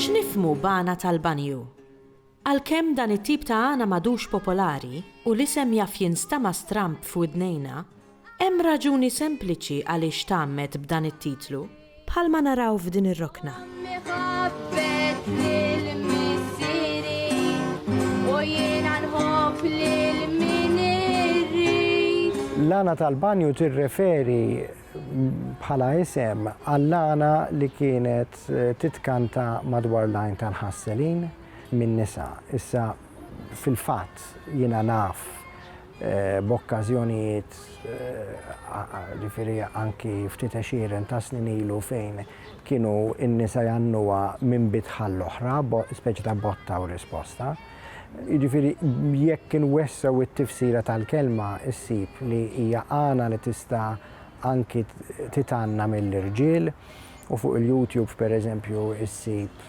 X'nifhmu b'għana tal-banju? Għalkemm dan it-tip ta' għana m'għadux popolari u l-isem jaf jinstama' stramb f'widnejna, hemm raġuni sempliċi għaliex tgħammed b'dan it-titlu. Bħalma naraw f'din ir-rokna. L-għana tal-banju tirreferi bħala isem għall-għana li kienet titkanta madwar l-għajn tal-ħasselin min-nisa. Issa fil-fatt jiena naf b'okkażjonijiet, ġifieri anki ftit għexieren ta' snin ilu fejn kienu n-nisa jgħannuha minn bitħa għall-oħra, speċi ta' botta u risposta. Jiġifieri jekk inwessgħu t-tifsira tal-kelma ssib li hija għana li tista' anki titgħanna mill-irġiel u fuq il-YouTube pereżempju ssib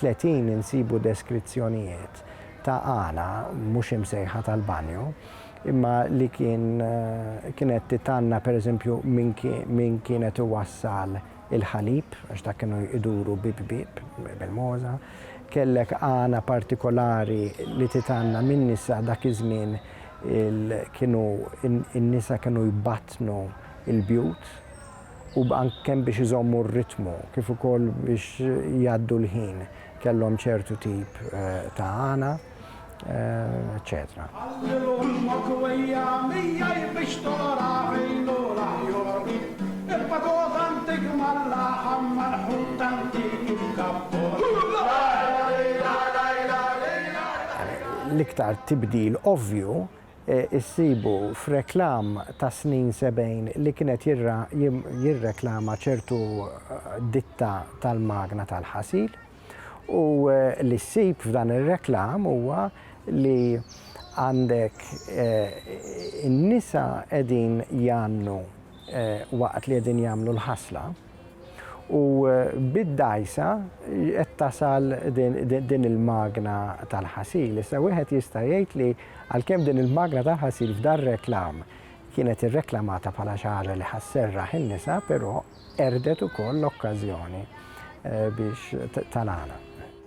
30 insibu deskrizzjonijiet ta' għana mhux imsejħa tal-banju, imma li kien kienet titgħanna pereżempju min kienet iwassal il-ħalib, għax dak kienu jduru bieb bieb bil-mogħża. Kellek għana partikolari li titgħanna min-nisa dak iż-żmien kienu n-nisa kienu jbattnu l-bjut. u anke kemm biex iżommu r-ritmu kif ukoll biex jgħaddu l-ħin kellhom ċertu tip ta' għana, eċċetera. L-iktar tibdil ovvju issibu f'reklam tas-snin sebgħin li kien qed jirreklama ċertu ditta tal-magna tal-ħasil u li ssib f'dan ir-reklam huwa li għandek in-nisa qegħdin jgħannu waqt li qegħdin jagħmlu l-ħasla, U bid-dgħajsa qed tasal din il-magna tal-ħasil. Issa wieħed jista' jgħid li għalkemm din il-magna tal-ħasil f'dan reklam kienet irreklamata bħala xi ħaġa li ħasserraħ in-nisa, però qerdet ukoll l-okkażjoni eh, biex tal-għana.